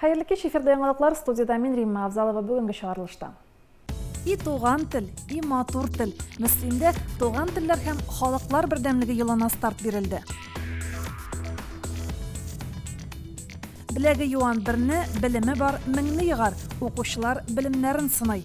Хәерле кич, эфирда яңалыклар, студиядә мин Римма Авзалова бүгенге чыгарылышта. И туган тел, и матур тел. Мөслимдә туган телләр һәм халыклар бердәмлеге елына старт бирелде. Беләге юан берне, белеме бар меңне егар. Укучылар белемнәрен сынай.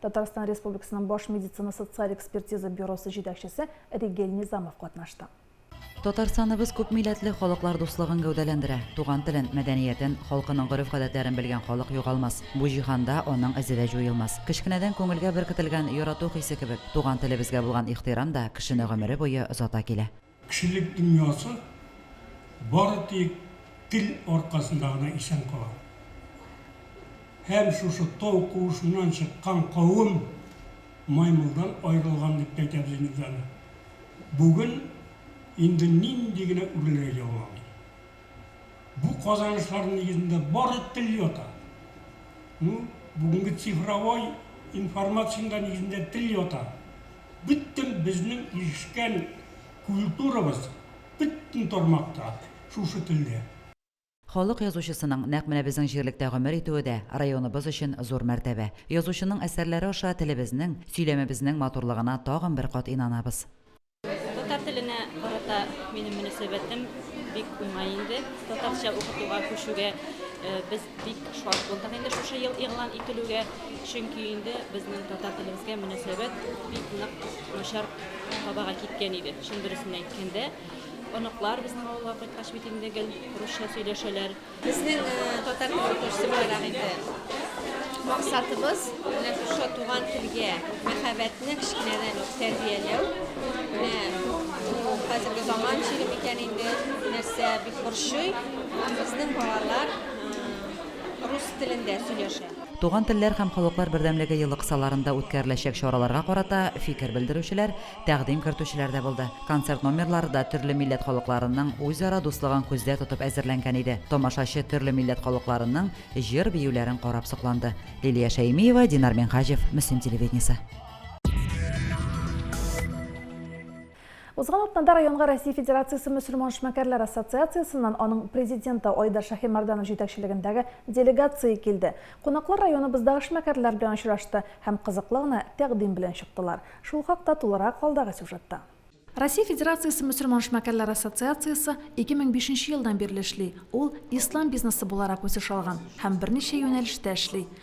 Татарстан Республикасының баш медицина-социаль экспертиза бюросы җитәкчесе Ригель Низамов катнашты. Татарстаныбыз күпмилләтле халыклар дуслыгын гәүдәләндерә. Туган телен, мәдәниятен, халкының гореф-гадәтләрен белгән халык югалмас. Бу җиһанда аның эзе дә җуелмас. Кечкенәдән күңелгә беркетелгән ярату хисе кебек, туган телебезгә булган ихтирам да кешене гомере буе озата килә. Кешелек дөньясы бары тик тел аркасында гына исән кала. Һәм шушы тау куышыннан чыккан кавым маймылдан аерылган дип тә әйтәбез инде без аны. Бүген инде нинди генә үрләр яуламый. Бу казанышларның нигезендә бары тел ята. Ну, бүгенге цифровой информациянең дә нигезендә тел ята. Бөтен безнең ирешкән культурабыз бөтен тармакта шушы телдә. Халык язучысының нәкъ менә безнең җирлектә гомер итүе дә районыбыз өчен зур мәртәбә. Язучының әсәрләре аша телебезнең, сөйләмебезнең матурлыгына тагын бер кат инанабыз. Татар теленә карата минем мөнәсәбәтем бик уңай инде. Татарча укытуга күчүгә без Бик шат булдык инде шушы ел игълан ителүгә, чөнки инде безнең татар телебезгә мөнәсәбәт бик нык начар табага киткән иде. Чын дөресен әйткәндә, оныклар безнең авылга кайткач бит инде гел русча сөйләшәләр. Безнең татар теле укытучысы буларак инде максатыбыз менә шушы туган телгә мәхәббәтне кечкенәдән үк тәрбияләү. Менә бу хәзерге заман чире микән инде, нәрсә бик борчый. Безнең балалар рус телендә сөйләшә. Туган телләр һәм халыклар бердәмлеге елы кысаларында үткәреләчәк чараларга карата фикер белдерүчеләр, тәкъдим кертүчеләр дә булды. Концерт номерлары да төрле милләт халыкларының үзара дуслыгын күздә тотып әзерләнгән иде. Тамашачы төрле милләт халыкларының җыр-биюләрен карап сокланды. Лилия Шәймиева, Динар Минһаҗев, Мөслим телевидениесе. Узган атнада районга Россия Федерациясе мөселман эшмәкәрләр ассоциациясеннән аның президенты Айдар Шаһимәрдәнов җитәкчелегендәге делегация килде. Кунаклар районыбыздагы эшмәкәрләр белән очрашты һәм кызыклы гына тәкъдим белән чыктылар. Шул хакта тулырак алдагы сюжетта. Россия Федерациясе мөселман эшмәкәрләр ассоциациясе 2005 нче елдан бирле эшли. Ул ислам бизнесы буларак үсеш алган һәм берничә юнәлештә эшли.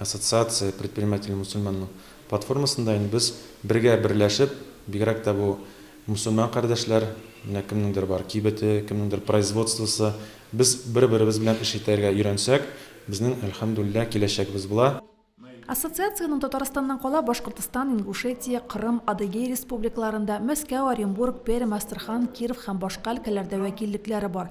Ассоциация предприниматели мусульманның платформасында инде без бергә берләшеп, бигрәк тә бу мусульман кардәшләр, менә кемнеңдер бар кибете, кемнеңдер производствосы, без бер-беребез белән эш итәргә өйрәнсәк, безнең, әлхәмдүлилләһ, киләчәгебез була. Ассоциациянең Татарстаннан кала Башкортостан, Ингушетия, Кырым, Адыгей республикаларында, Мәскәү, Оренбург, Пермь, Астрахан, Киров һәм башка өлкәләрдә вәкиллекләре бар.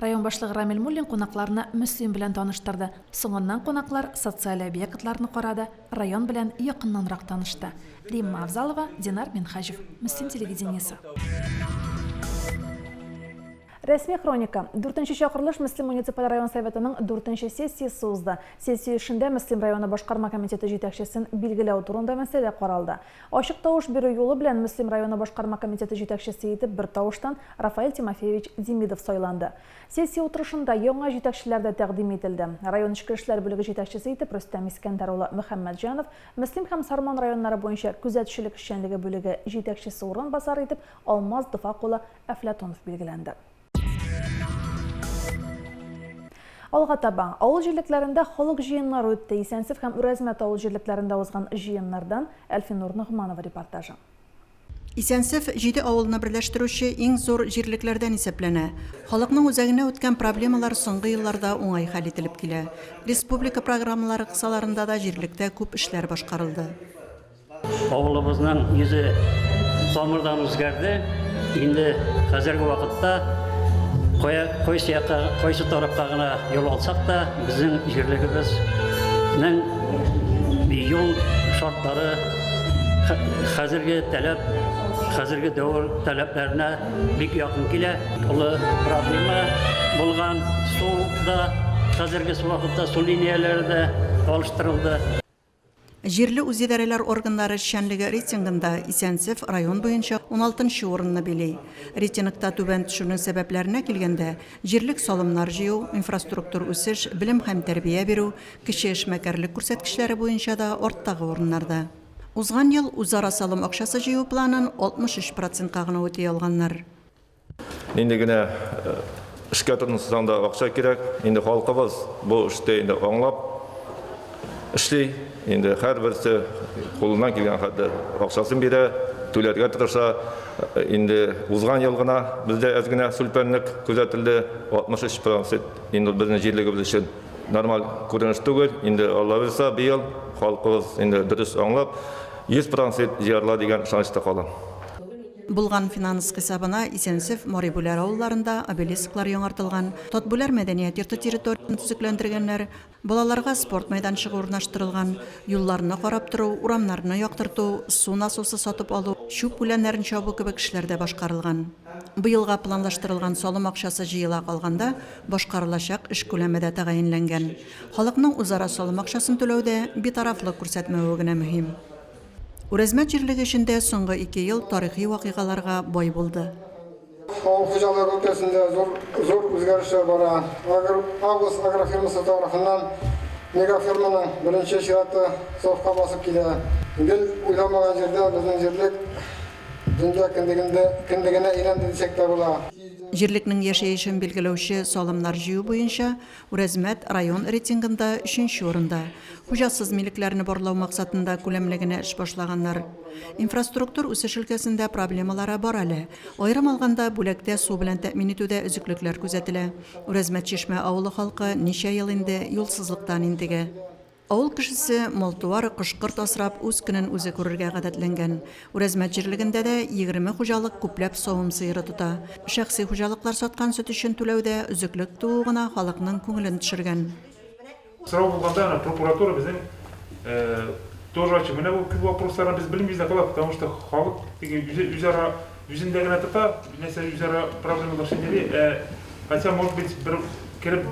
Район башлыгы Рамил Муллин кунакларны Мөслим белән таныштырды. Соңыннан кунаклар социаль объектларны карады, район белән якыннанрак танышты. Римма Авзалова, Динар Минһаҗев. Мөслим телевидениесе. Рәсми хроника. Дүртенче чакырылыш Мөслим муниципаль район Советының дүртенче сессиясе узды. Сессия эшендә Мөслим районы башкарма комитеты җитәкчесен билгеләү турында мәсьәлә каралды. Ачык тавыш бирү юлы белән Мөслим районы башкарма комитеты җитәкчесе итеп бертавыштан Рафаэль Тимофеевич Демидов сайланды. Сессия утырышында яңа җитәкчеләр дә тәкъдим ителде. Район эчке эшләр бүлеге җитәкчесе итеп Рөстәм Искәндәр улы Мөхәммәтҗанов, Мөслим һәм Сарман районнары буенча күзәтчелек эшчәнлеге бүлеге җитәкчесе урынбасары итеп Алмаз Дфак улы Әфләтунов билгеләнде. Алга таба авыл җирлекләрендә халык җыеннары үтте. Исәнсев һәм Үрәзмәт авыл җирлекләрендә узган җыеннардан Әлфинур Ногманова репортажы. Исәнсев җиде авылны берләштерүче иң зур җирлекләрдән исәпләнә. Халыкның үзәгенә үткән проблемалар соңгы елларда уңай хәл ителеп килә. Республика программалары кысаларында да җирлектә күп эшләр башкарылды. Авылыбызның йөзе тамырдан үзгәрде. Инде хәзерге вакытта кая кайсы якка, кайсы тарафка гына юл алсак та, безнең җирлегебезнең юл шартлары хәзерге таләп, хәзерге дәвер таләпләренә бик якын килә. Олы проблема булган су да хәзерге вакытта су линияләре дә алыштырылды. Җирле үзидарәләр органнары эшчәнлеге рейтингында Исәнсеф район буенча уналтынчы урынны били. Рейтингта түбән төшүнең сәбәпләренә килгәндә, җирлек салымнар җыю, инфраструктур үсеш, белем һәм тәрбия бирү, кече эшмәкәрлек күрсәткечләре буенча да арттагы урыннарда. Узган ел үзара салым акчасы җыю планын 63 процентка гына үти алганнар. Нинди генә э, эшкә тотынсаң да акча кирәк. Инде халкыбыз бу эште инде аңлап эшли. Инде һәрберсе кулыннан килгән хәтле акчасын бирә, түләргә тырыша. Э, инде узган ел гына бездә әз генә сүлпәнлек күзәтелде, 63 процент. Инде безнең җирлегебез өчен нормаль күренеш түгел. Инде Алла бирса, быел халкыбыз инде дөрес аңлап 100 процент җыярла дигән ышанычта калам. Булган финанс хисабына Исәнсеф, Марибүләр авылларында обелисклар яңартылган, Татбүләр мәдәният йорты территориясен төзекләндергәннәр, балаларга спорт мәйданчыгы урнаштырылган, юлларны карап тору, урамнарны яктырту, су насосы сатып алу, чүп күләннәрен чабу кебек эшләр дә башкарылган. Быелга планлаштырылган салым акчасы җыела калганда башкарылачак эш күләме дә тәгаенләнгән. Халыкның үзара салым акчасын түләүдә битарафлык күрсәтмәве генә мөһим. Үрәзмәт җирлеге эчендә соңгы ике ел тарихи вакыйгаларга бай булды. Авыл хуҗалыгы өлкәсендә зур үзгәрешләр бара. Агрус агрофирмасы тарафыннан мегаферманың беренче чираты сафка басып килә. Гел уйламаган җирдә безнең җирлек дөнья кендегенә әйләнде дисәк тә була. Җирлекнең яшәешен билгеләүче салымнар җыю буенча Үрәзмәт район рейтингында өченче урында. Хуҗасыз милекләрне барлау максатында күләмле генә эш башлаганнар. Инфраструктур үсеш өлкәсендә проблемалары бар әле. Аерым алганда, бүләктә су белән тәэмин итүдә өзеклекләр күзәтелә. Үрәзмәт-Чишмә авылы халкы ничә ел инде юлсызлыктан интегә. Авыл кешесе мал-туар, кош-корт асрап, үз көнен үзе күрергә гадәтләнгән. Үрәзмәт җирлегендә дә егерме хуҗалык күпләп савым сыеры тота. Шәхси хуҗалыклар саткан сөт өчен түләүдә өзеклек туу гына халыкның күңелен төшергән. Сорау булганда аны прокуратура безнең тоже ачык. Менә бу күп вопросларны без белмибез дә калабыз, потому что халык теге үзе үзара үзендә генә тота, нәрсә үзара проблемалар шәйнәли, ә хотя может быть бер кереп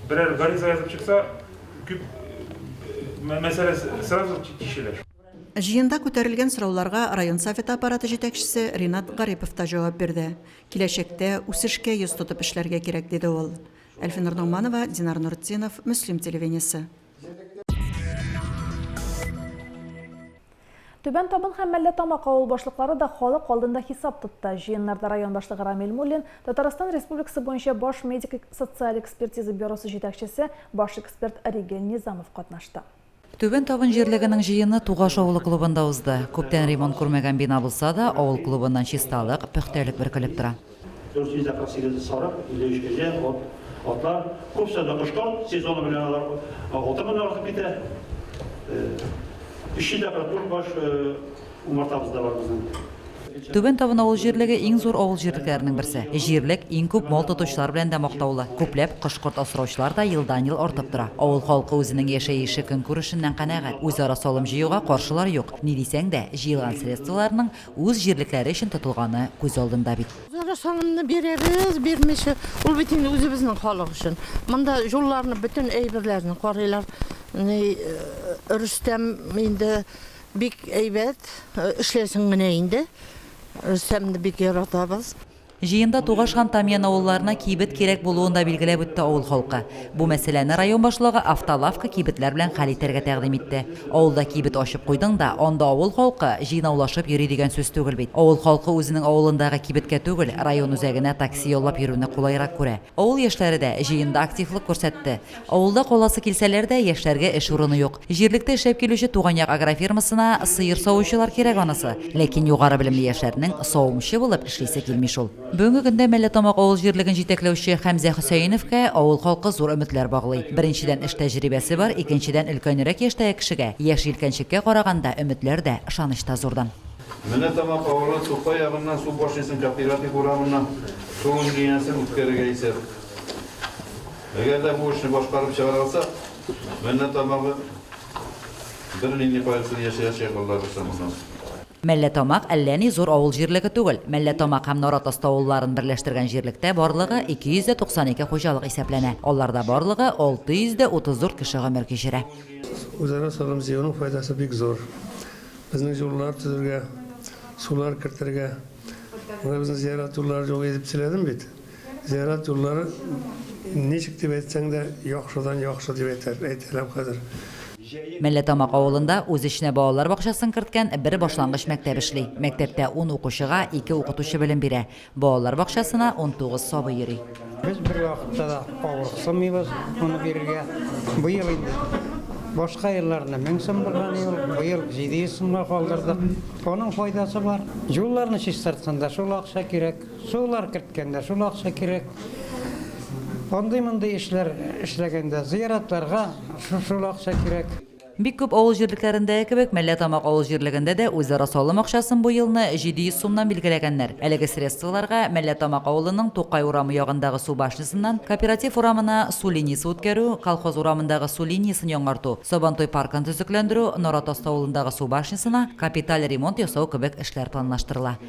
берәр гариза язып чыкса, Күп мәсьәлә сразу чишелә. Җыенда күтәрелгән сорауларга район Советы аппараты җитәкчесе Ринат Гарипов та җавап бирде. Киләчәктә үсешкә йөз тотып эшләргә кирәк, диде ул. Әлфинур Ногманова, Динар Нуртдинов, Мөслим телевидениесе. Түбән Табын һәм Мәллә Тамак авыл башлыклары да халык алдында хисап тотты. Җыеннарда район башлыгы Рамил Муллин, Татарстан Республикасы буенча баш медик-социаль экспертиза бюросы җитәкчесе, баш эксперт Ригель Низамов катнашты. Түбән Табын җирлегенең җыены Тугаш авылы клубында узды. Күптән ремонт күрмәгән бина булса да, авыл клубыннан чисталык, пөхтәлек бөркелеп тора. 448 сарык, 53 кәҗә, ат, атлар, күп санлы кошлар, сезоны белән алар 6 меңнән артып китә. 300 дә кырык баш умартабыз да бар безнең. Түбән Табын авыл җирлеге иң зур авыл җирлекләренең берсе. Җирлек иң күп мал тотучылар белән дә мактаулы. Күпләп кош-корт асраучылар да елдан-ел артып тора. Авыл халкы үзенең яшәеше-көнкүрешеннән канәгать. Үзара салым җыюга каршылар юк. Ни дисәң дә, җыелган средстволарның Үз җирлекләре өчен тотылганы күз алдында бит. Зара санымны бирәбез, бирмичә, ул бит инде үзебезнең халык өчен. Монда җулларны, бөтен әйберләрне карыйлар. Ни, Рөстәм инде бик әйбәт, эшләсен генә инде. Рөстәмне бик яратабыз. Җыенда Тугаш һәм Тамьян авылларына кибет кирәк булуын да билгеләп үтте авыл халкы. Бу мәсьәләне район башлыгы автолавка, кибетләр белән хәл итәргә тәкъдим итте. Авылда кибет ачып куйдың да, анда авыл халкы җыйнаулашып йөри дигән сүз түгел бит. Авыл халкы үзенең авылындагы кибеткә түгел, район үзәгенә такси яллап йөрүне кулайрак күрә. Авыл яшьләре дә җыенда активлык күрсәтте. Авылда каласы килсәләр дә, яшьләргә эш урыны юк. Җирлектә эшләп килүче Туган як агрофирмасына сыер савучылар кирәк анысы. Ләкин югары белемле яшьләрнең савымчы булып эшлисе килми шул. Бүгенге көндә Мәлләтамак авыл җирлеген җитәкләүче Хәмзә Хөсәеновка авыл халкы зур өметләр баглый. Беренчедән, эш тәҗрибәсе бар, икенчедән, өлкәнрәк яшьтәге кешегә, яшь җилкәнчеккә караганда, өметләр дә, ышаныч та зурдан. Мәлләтамак авылы Тукай ягыннан су башниясен Кооператив урамыннан су линиясен үткәрергә исәп. Әгәр дә бу эшне башкарып чыгара алсак, меннән тамагы бер нинди кайгысыз яшәячәк аллабирса моннан. Мәлләтамак әллә ни зур авыл җирлеге түгел. Мәлләтамак һәм Наратасты авылларын берләштергән җирлектә барлыгы 292 хуҗалык исәпләнә. Аларда барлыгы 634 кеше гомер кичерә. Үзара салым җыюның файдасы бик зур. Безнең юллар төзергә, сулар кертергә, менә безнең зиярат юллары юк иде дип сөйләдем бит. Зиярат юллары ничек дип әйтсәң дә, яхшыдан яхшы дип әйтәр, әйтәләм хәзер. Мәлләтамак авылында үз эченә балалар бакчасын керткән бер башлангыч мәктәп эшли. Мәктәптә ун укучыга ике укытучы белем бирә. Балалар бакчасына унтугыз сабый йөри. Без бервакытта да авырыксынмыйбыз моны бирергә. Быел инде, башка елларында мең сум булган иде ул, быел җиде йөз сумга калдырдык. Аның файдасы бар. Юлларны чистартканда шул акча кирәк. Сулар керткәндә шул акча кирәк. Андый-мондый эшләр эшләгәндә, зыяратларга шул акча кирәк. Бик күп авыл җирлекләрендәге кебек, Мәлләтамак авыл җирлегендә дә үзара салым акчасын бу елны 700 сумнан билгеләгәннәр. Әлеге средстволарга Мәлләтамак авылының Тукай урамы ягындагы су башнясыннан Кооператив урамына су линиясе үткәрү, Колхоз урамындагы су линиясен яңарту, Сабантуй паркын төзекләндерү, Наратаст авылындагы су башнясына капиталь ремонт ясау кебек эшләр планлаштырыла.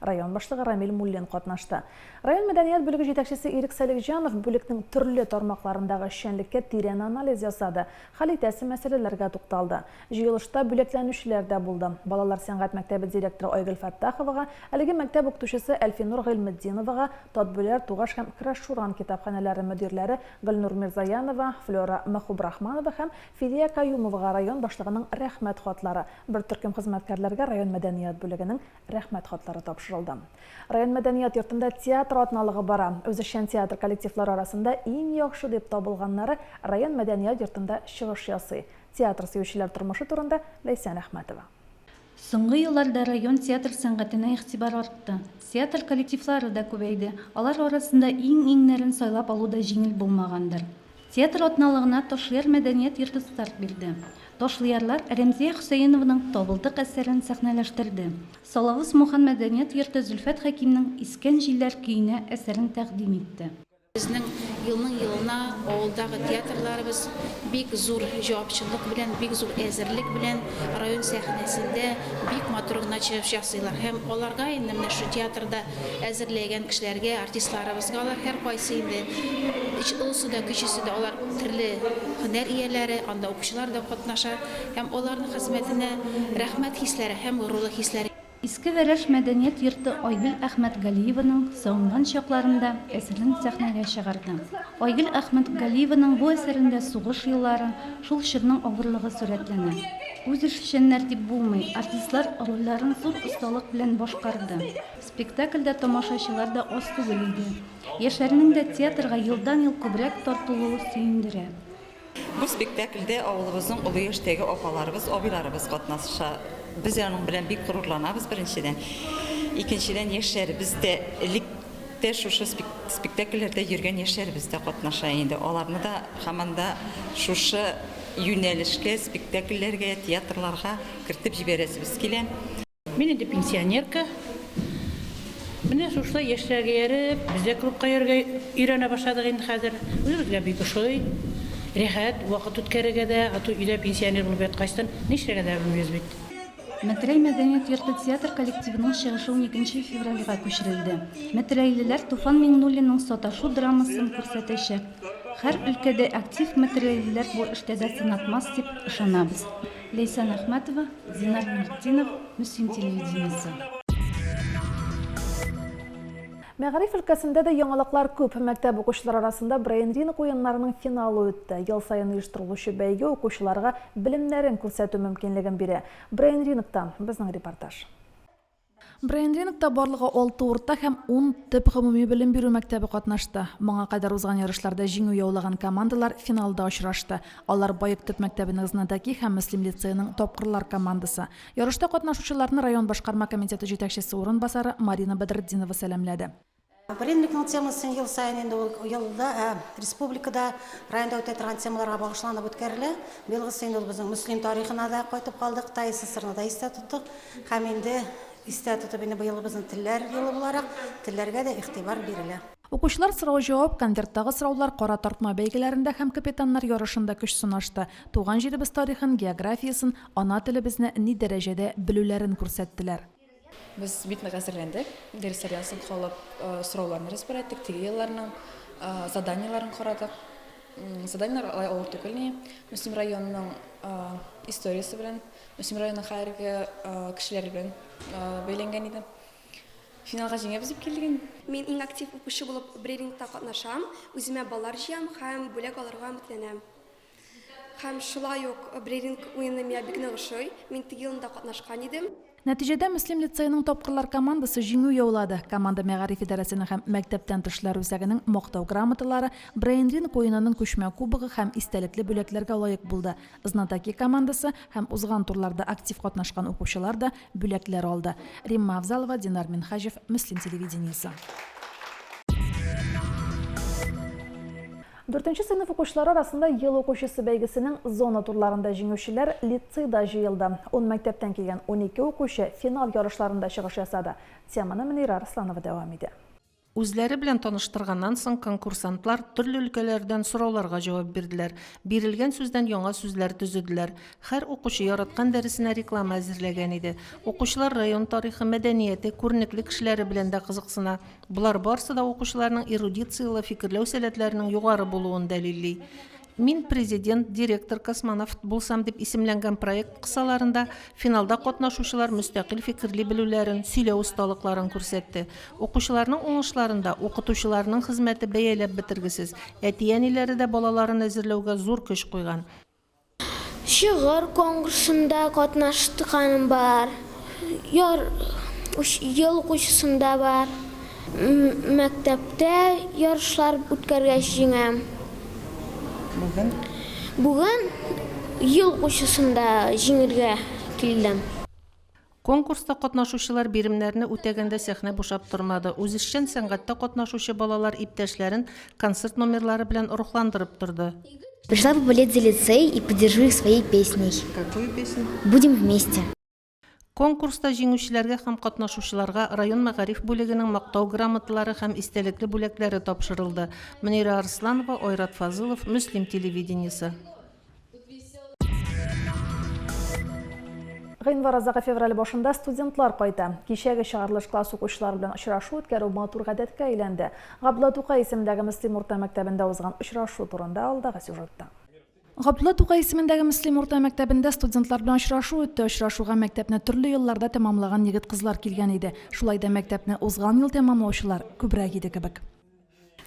Район башлыгы Рамил Муллин катнашты. Район мәдәният бүлеге җитәкчесе Ирек Салихҗанов бүлекнең төрле тармакларындагы эшчәнлеккә тирән анализ ясады, хәл итәсе мәсьәләләргә тукталды. Җыелышта бүләкләнүчеләр дә булды. Балалар сәнгать мәктәбе директоры Айгөл Фәттаховага, әлеге мәктәп укытучысы Әлфинур Гыйльметдиновага, Татбүләр, Тугаш һәм Краш-Шуран китапханәләре мөдирләре Гөлнур Мирзаянова, Флера Мөхубрахманова һәм Фидия Каюмовага район башлыгының Рәхмәт хатлары, бер төркем хезмәткәрләргә район мәдәният бүлегенең Рәхмәт хатлары тапшырылды. Район мәдәният йортында театр атналыгы бара. Үзешчән театр коллективлары арасында иң яхшы дип табылганнары район мәдәният йортында чыгыш ясый. Театр сөючеләр тормышы турында Ләйсән Әхмәтова. Соңгы елларда район театр сәнгатенә игътибар артты. Театр коллективлары да күбәйде. Алар арасында иң-иңнәрен сайлап алу да җиңел булмагандыр. Театр атналыгына Ташлыяр мәдәният йорты старт бирде. Ташлыярлар Рәмзия Хөсәенованың Табылдык әсәрен сәхнәләштерде. Салавыз Мухан мәдәният йорты Зөлфәт Хәкимнең Искән җилләр көенә әсәрен тәкъдим итте. Безнең елның-елына авылдагы театрларыбыз бик зур җавапчыллык белән, бик зур әзерлек белән район сәхнәсендә бик матур гына чыгыш ясыйлар. Һәм аларга инде менә шул театрда әзерләгән кешеләргә, артистларыбызга алар һәркайсы инде олысы да, кечесе дә алар төрле һөнәр ияләре, анда укучылар да катнаша һәм аларның хезмәтенә рәхмәт хисләре һәм горурлык хисләре. Иске Вәрәш мәдәният йорты Айгөл Әхмәтгалиеваның сагынган чакларында әсәрен сәхнәгә чыгарды. Айгөл Әхмәтгалиеваның бу әсәрендә сугыш еллары, шул чорның авырлыгы сурәтләнә. Үзешчәннәр дип булмый, артистлар рольләрен зур осталык белән башкарды. Спектакльдә тамашачылар да аз түгел иде. Яшьләрнең дә театрга елдан-ел күбрәк тартылуы сөендерә. Бу спектакльдә авылыбызның олы яшьтәге апаларыбыз, абыйларыбыз катнаша. Без аның белән бик горурланабыз, беренчедән. Икенчедән, яшьләребез дә, элек тә шушы спектакльләрдә йөргән яшьләребез дә катнаша инде. Аларны да һаман да шушы. Юнәлешкә, спектакльләргә, театрларга кертеп җибәрәсебез килә. Мин инде пенсионерка. Менә шушылай яшьләргә ияреп, без дә клубка йөрергә өйрәнә башладык инде хәзер. Үзебезгә бик ошый. Рәхәт вакыт үткәрергә дә, а то өйдә пенсионер булып яткачтын, нишләргә дә белмибез бит. Метрәй мәдәният йорты театр коллективының чыгышы уникенче февральгә күчерелде. Метрәйлеләр Туфан Миңнуллинның Саташу драмасын күрсәтәчәк. Һәр өлкәдә актив материалистлар бу эштә дә сынатмас дип ышанабыз. Ләйсән Әхмәтова, Зинар Мөхтинов, Мөслим телевидениесе. Мәгариф өлкәсендә дә яңалыклар күп. Мәктәп укучылары арасында брейн-ринг уеннарының финалы үтте. Ел саен оештырылучы бәйге укучыларга белемнәрен күрсәтү мөмкинлеген бирә. Брейн-рингтан безнең репортаж. Брейнрингта барлыгы алты урта һәм ун төп гомуми белем бирү мәктәбе катнашты. Моңа кадәр узган ярышларда җиңү яулаган командалар финалда очрашты. Алар Боек төп мәктәбенең Знатоки һәм Мөслим лицееның Тапкырлар командасы. Ярышта катнашучыларны район башкарма комитеты җитәкчесе урынбасары Марина Бәдретдинова сәламләде. Валенникның темасы ел саен инде ул елда республикада, районда үтә торган темаларга багышланып үткәрелә. Быелгысы инде ул безнең Мөслим тарихына да кайтып калдык, Тай СССРны да истә тоттык. Һәм инде истә тотып, инде быелгы безнең телләр елы буларак, телләргә дә игътибар бирелә. Укучылар сорау-җавап, конверттагы сораулар, кара тартма бәйгеләрендә һәм капитаннар ярышында көч сынашты, туган җиребез тарихын, географиясен, ана телебезне ни дәрәҗәдә белүләрен күрсәттеләр. Без бит нык әзерләндек. Дәресләрдән соң калып сорауларны разбираттык, теорияләрнең заданиеләрен карадык. Заданиеләр алай авыр түгел ни. Мөслим районының историясе белән, Мөслим районының хәзерге кешеләре белән бәйләнгән иде. Финалга җиңәбез дип килдек инде. Мин иң актив укучы булып брейфингта катнашам, үземә баллар җыям һәм бүләк алырга өметләнәм. Һәм шулай ук брейринг уены миңа бик нык ошый. Мин теге елны да катнашкан идем. Нәтиҗәдә Мөслим лицееның тапкырлар командасы җиңү яулады. Команда мәгариф идарәсенең һәм мәктәптән тышлар үзәгенең Мактау грамоталары, брейнринг уенының күчмә кубогы һәм истәлекле бүләкләргә лаек булды. Знатоки командасы һәм узган турларда актив катнашкан укучылар да бүләкләр алды. Римма Авзалова, Динар Минһаҗев, Мөслим телевидениесе. Дүртенче сыйныф укучылары арасында Ел укучысы бәйгесенең зона турларында җиңүчеләр лицейда җыелды. Ун мәктәптән килгән унике укучы финал ярышларында чыгыш ясады. Теманы Мөнирә Арсланова дәвам итә. Үзләре белән таныштырганнан соң, конкурсантлар төрле өлкәләрдән сорауларга җавап бирделәр, бирелгән сүздән яңа сүзләр төзеделәр. Хәр укучы яраткан дәресенә реклама әзерләгән иде. Укучылар район тарихы, мәдәнияте, күренекле кешеләре белән дә кызыксына. Болар барсы да укучыларның эрудицияле фикерләү сәләтләренең югары булуын дәлилли. Мин президент, директор, космонавт булсам дип исемләнгән проект кысаларында финалда катнашучылар мөстәкыйль фикерли белүләрен, сөйләү осталыкларын күрсәтте. Укучыларның уңышларында укытучыларының хезмәте бәяләп бетергесез. Әти-әниләре дә балаларын әзерләүгә зур көч куйган. Шигырь коңгрсында катнаштканым бар. Яр ел укучысында бар. Мәктәптә ярышлар үткәргәч җиңәм. Бүген? Бүген ел укучысында җиңергә килдем. Конкурста катнашучылар биремнәрне үтәгәндә сәхнә бушап тормады, үзешчән сәнгатьтә катнашучы балалар иптәшләрен концерт номерлары белән рухландырып торды. Пришла бы болеть за лицей и поддержу их своей песней. Какую песню? Будем вместе. Конкурста җиңүчеләргә һәм катнашучыларга район мәгариф бүлегенең Мактау грамоталары һәм истәлекле бүләкләре тапшырылды, Мөнирә Арсланова, Айрат Фазылов, Мөслим телевидениесе. Гыйнвар азагы февраль башында студентлар кайта. Кичәге чыгарылыш класс укучылары белән очрашу үткәрү матур гадәткә әйләнде. Габдулла Тукай исемендәге Мөслим урта мәктәбендә узган очрашу турында алдагы сюжетта. Габдулла Тукай исемендәге Мөслим урта мәктәбендә студентлар белән очрашу үтте. Очрашуга мәктәпне төрле елларда тәмамлаган егет-кызлар килгән иде. Шулай да мәктәпне узган ел тәмамлаучылар күбрәк иде кебек.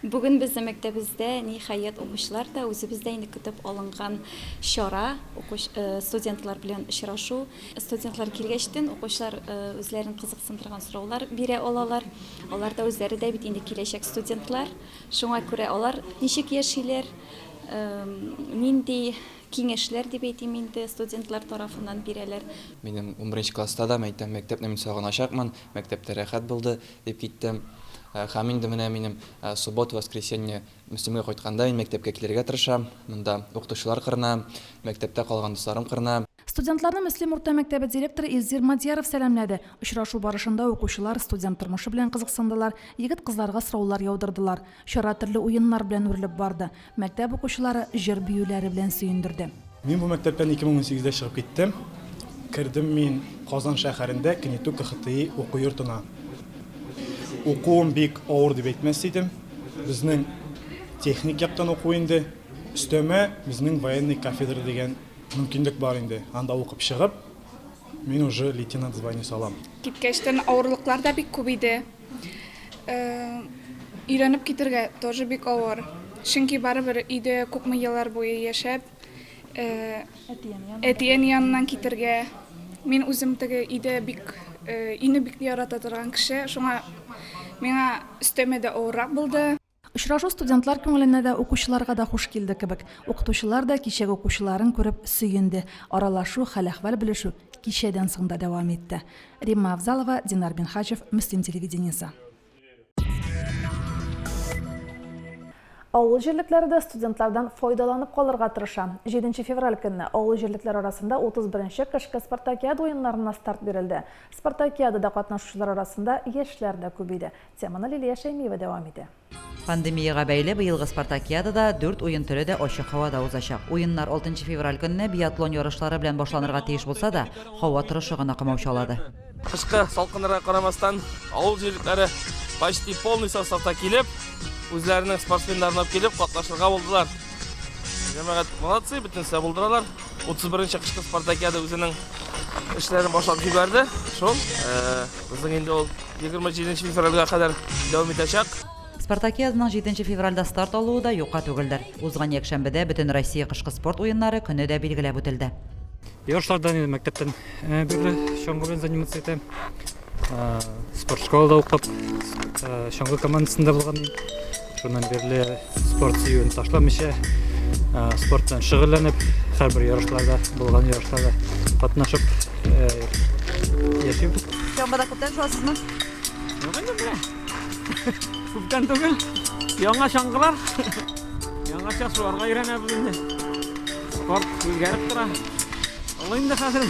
Бүген безнең мәктәбездә, ниһаять, укучылар да, үзебез дә инде көтеп алынган чара, студентлар белән очрашу. Студентлар килгәчтен, укучылар үзләрен кызыксындырган сораулар бирә алалар. Алар да үзләре дә бит инде киләчәк студентлар. Шуңа күрә алар ничек яшиләр, нинди киңәшләр, дип әйтим инде, студентлар тарафыннан бирәләр. Минем унберенче класста да мәктәпне мин сагыначакмын. Мәктәптә рәхәт булды. Дип киттем. Һәм инде менә минем суббота, воскресенье Мөслимгә кайтканда мин мәктәпкә килергә тырышам. Монда укытучылар кырына, мәктәптә калган дусларым кырына. Студентларны Мөслим урта мәктәбе директоры Илзир Мадьяров сәламләде. Очрашу барышында укучылар студент тормышы белән кызыксындылар, егет-кызларга сораулар яудырдылар. Чара төрле уеннар белән үрелеп барды. Мәктәп укучылары җыр-биюләре белән сөендерде. Мин бу мәктәптән 2018 дә чыгып киттем. Кердем мин Казан шәһәрендә КНИТУ КХТИ уку йортына. Укуым бик авыр дип әйтмәс идем. Безнең техник яктан уку инде. Өстәмә безнең военный кафедра дигән мөмкинлек бар инде. Анда укып чыгып, мин уже лейтенант званиесе алам. Киткәчтен авырлыклар да бик күп иде. Өйрәнеп китергә тоже бик авыр. Чөнки барыбер өйдә күпме еллар буе яшәп, әти-әни яныннан китергә. Мин үзем теге өйдә бик, өйне бик ярата торган кеше, шуңа миңа өстәмә дә авыррак булды. Очрашу студентлар күңеленә дә, укучыларга да хуш килде кебек. Укытучылар да кичәге укучыларын күреп сөенде. Аралашу, хәл-әхвәл белешү кичәдән соң да дәвам итте. Римма Авзалова, Динар Минһаҗев, Мөслим телевидениесе. Авыл җирлекләре дә студентлардан файдаланып калырга тырыша. Җиденче февраль көнне авыл җирлекләре арасында 31 нче кышкы спартакиада уеннарына старт бирелде. Спартакиадада катнашучылар арасында яшьләр дә күп иде. Теманы Лилия Шәймиева дәвам итә. Пандемиягә бәйле быелгы спартакиадада дүрт уен төре дә ачык һавада узачак. Уеннар 6 февраль көнне биатлон ярышлары белән башланырга тиеш булса да, һава торышы гына комаучалады. Кышкы салкыннарга карамастан, авыл җирлекләре почти полный составта килеп, үзләренең спортсменнарын алып килеп катнашырга булдылар. Җәмәгать молодцы, бөтенесе дә булдыралар. 31 нче кышкы спартакиада үзенең эшләрен башлап җибәрде. Шул безнең инде ул 27 февральгә кадәр дәвам итәчәк. Спартакиаданың 7 февральдә старт алуы да юкка түгелдер. Узган якшәмбедә бөтен Россия кышкы спорт уеннары көне дә билгеләп үтелде. Ярышлардан инде мәктәптән бирле чаңгы белән заниматься итәм. Спорт школада укып, чаңгы командасында булган идем. Шуннан бирле спорт сөюен ташламыйча, спорт белән шөгыльләнеп, һәрбер ярышларда, булган ярышларда катнашып яшим. Чаңгыда күптән шуасызмы? Юк инде менә. Күптән түгел. Яңа чаңгылар. Яңача шуларга өйрәнәбез инде. Спорт үзгәреп тора. Ул инде хәзер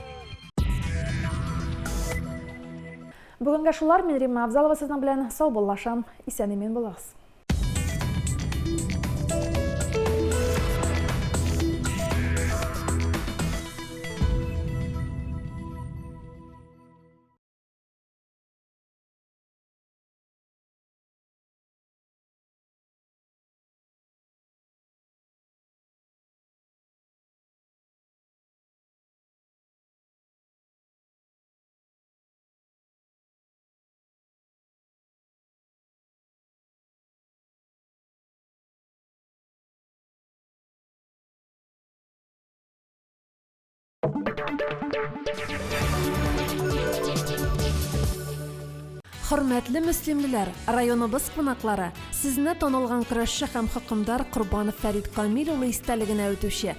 Бүгенгә шулар, мин Римма Абзалова сезнең белән сау буллашам. Исән имин булыгыз. Хөрмәтле мөслимлеләр, районыбыз кунаклары, сезне танылган көрәшче һәм хөкемдар Корбанов Фәрит Камил улы истәлегенә үтүче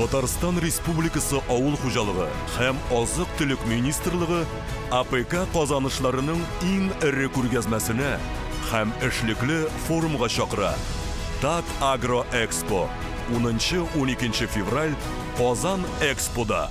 Татарстан Республикасы Авыл хуҗалыгы һәм азык-төлек министрлыгы АПК казанышларының иң эре күргәзмәсенә һәм эшлекле форумга чакыра. Татагроэкспо, унынчы-уникенче февраль, Казан Экспода!